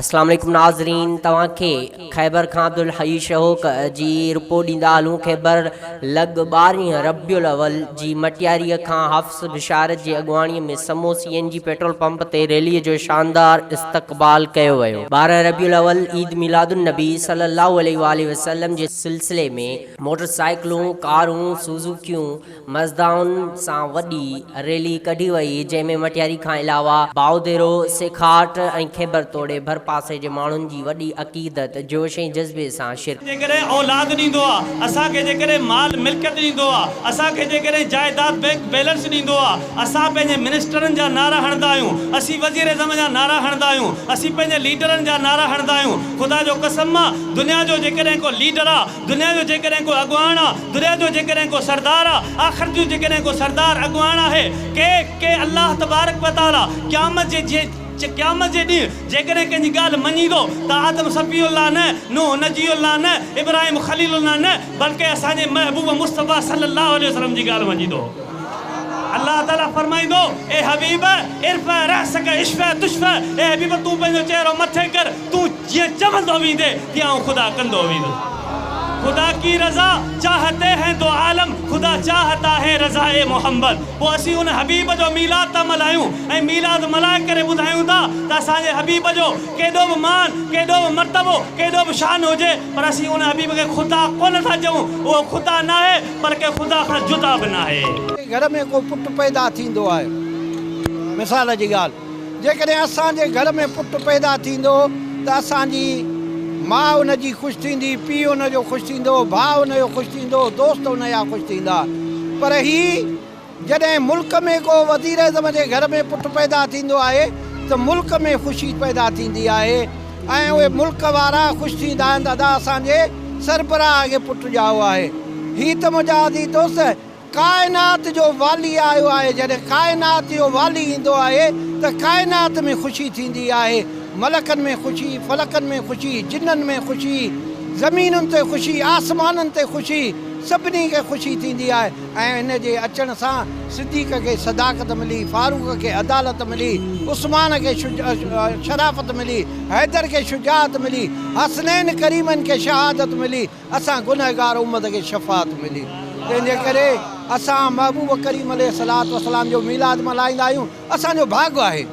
اسلام عليڪم ناظرين توهان کي خيبر کان عبدالحي شهوڪ جي رپورٽ ڏيندا هلون خيبر لڳ ٻارهين ربيع الاول جي مٽياري کان حفص بشارت جي اڳواڻي ۾ سمو C N G petrol pump تي ريلي جو شاندار استقبال ڪيو ويو ٻارهن ربيع الاول عيد ميلاد النبي صلي الله عليه واٰله وسلم جي سلسلي ۾ موٽر سائيڪلون ڪارون سوزوڪيون مزدائن سان وڏي ريلي ڪڍي وئي جنهن ۾ مٽياري کان علاوه بائوديرو، سيکاٽ ۽ خيبر توڙي ڀرپاسي جي ماڻهن جي وڏي عقيدت، جوش ۽ جذبي سان شرڪت. جيڪڏهن اولاد ڏيندو آ، اسان کي جيڪڏهن مال ملڪيت ڏيندو آ، اسان کي جيڪڏهن جائيداد بئنڪ بيلنس ڏيندو آ، اسان پنهنجي منسٽرن جا نعرا هڻندا آهيون، اسين وزيراعظم جا نعرا هڻندا آهيون، اسين پنهنجي ليڊرن جا نعرا هڻندا آهيون، خدا جو قسم آ دنيا جو جيڪڏهن ڪو ليڊر آ، دنيا جو جيڪڏهن ڪو اڳواڻ آ، دنيا جو جيڪڏهن ڪو سردار آ، آخرت جو جيڪڏهن ڪو سردار اڳواڻ آهي، ڪي ڪي الله تبارڪ و تعالي قيامت جي جي قيامت جي ڏينهن جيڪڏهن ڪنهن جي ڳالهه مڃيندو ته آدم صفي الله نه، نوح نجي الله نه، ابراهيم خليل الله نه بلڪه اسان جي محبوب مصطفيٰ صلّي اللّٰه عليه وسلّم جي ڳالهه مڃيندو. الله تعالي فرمائيندو، اي حبيب ارفع راسك اشفع تشفع، اي حبيب تون پنهنجو چهرو مٿي ڪر، تون جيئن چوندو ويندي تيئن آئون خدا ڪندو ويندس خدا ڪي رضا چاهتي هين دو عالم خدا چاهتا هين رضاء محمد پوء اسين ان حبيب جو ميلاد ٿا ملهايون ۽ ميلاد ملهائي ڪري ٻڌايون ٿا ته اسان جي حبيب جو ڪيڏو به مان ڪيڏو به مرتبو ڪيڏو به شان هجي پر اسين ان حبيب کي خدا ڪونه ٿا چئون اهو خدا ناهي بلڪه خدا کان جدا به ناهي. ڪنهن گهر ۾ ڪو پٽ پيدا ٿيندو آهي مثال جي ڳالهه. جيڪڏهن اسان جي گهر ۾ پٽ پيدا ٿيندو ته اسان جي ماء ان جي خوش ٿيندي، پيء ان جو خوش ٿيندو، ڀاء ان جو خوش ٿيندو، دوست ان جا خوش ٿيندا. پر هي جڏهن ملڪ ۾ ڪو وزيراعظم جي گهر ۾ پٽ پيدا ٿيندو آهي ته ملڪ ۾ خوشي پيدا ٿيندي آهي ۽ اهي ملڪ وارا خوش ٿيندا آهن ته ادا اسان جي سربراهه کي پٽ ڄائو آهي. هي ته منهنجا عزيز دوست! ڪائنات جو والي آيو آهي، جڏهن ڪائنات جو والي ايندو آهي ته ڪائنات ۾ خوشي ٿيندي آهي، ملڪن ۾ خوشي، فلڪن ۾ خوشي، جنن ۾ خوشي، زمينن تي خوشي، آسمانن تي خوشي، سڀني کي خوشي ٿيندي آهي ۽ هن جي اچڻ سان صديق کي صداقت ملي، فاروق کي عدالت ملي، عثمان کي شرافت ملي، حيدر کي شجاعت ملي، حسنين ڪريمين کي شهادت ملي. اسان گنهگار امت کي شفاعت ملي تنهن جي ڪري اسان محبوب ڪريم عليه الصلوة والسلام جو ميلاد ملهائيندا آهيون اسان جو ڀاڳ آهي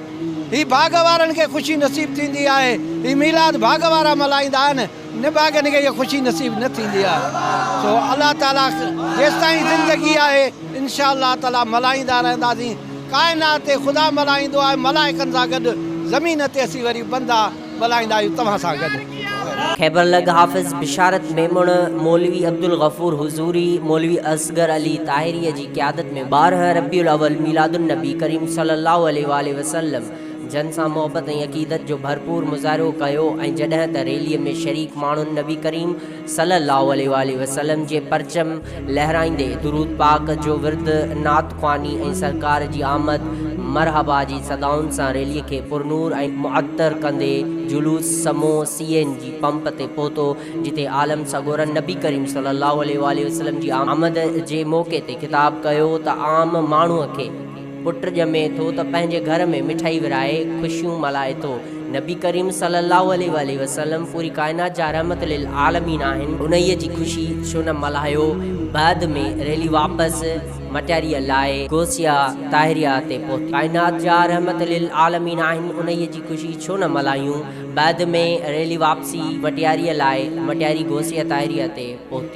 هي ڀاڳ وارن کي خوشي نصيب ٿيندي آهي هي ميلاد ڀاڳ وارا ملهائيندا آهن نڀاڳن کي هيء خوشي نصيب نه ٿيندي آهي سو الله تعالي جيستائين زندگي آهي انشاء الله تعالي ملهائيندا رهنداسين ڪائنات تي خدا ملهائيندو آهي ملائڪن سان گڏ زمين تي اسين وري بندا ڳالهائيندا آهيون توهان سان گڏ. خيبر لڳ حافظ بشارت ميمڻ، مولوي عبدالغفور حضوري، مولوي اصغر علي طاهريء جي قيادت ۾ ٻارهن ربيع الاول ميلاد النبي ڪريم صلي الله عليه واٰله وسلم جن سان محبت ۽ عقيدت جو ڀرپور مظاهرو ڪيو ۽ جڏهن ته ريليء ۾ شريڪ ماڻهن نبي ڪريم صلّي اللّٰه عليه واٰله وسلّم جي پرچم لهرائيندي درود پاڪ جو ورد، نعت خواني ۽ سرڪار جي آمد مرحبا جي صدائن سان ريلي کي پرنور ۽ معطر ڪندي جلوس سمو سي اين جي پمپ تي پهتو جتي عالم سڳورن نبي ڪريم صلّي اللّٰه عليه واٰله وسلّم جي آمد جي موقعي تي خطاب ڪيو ته عام ماڻهو کي پٽ ڄمي ٿو ته پنهنجي گهر ۾ مٺائي ورهائي خوشيون ملهائي ٿو. نبي ڪريم صلّي اللّٰه عليه واٰله وسلّم پوري ڪائنات جا رحمت للعالمين آهن، انهيء جي خوشي ڇو نه ملهايو، بعد ۾ ريلي واپس مٽياريء لاء غوثيه طاهريه تي پهتي. ڪائنات جا رحمت للعالمين آهن، انهيء جي خوشي ڇو نه ملهايون، بعد ۾ ريلي واپسي مٽياريء لاء مٽياري غوثيه طاهريه تي پهتي.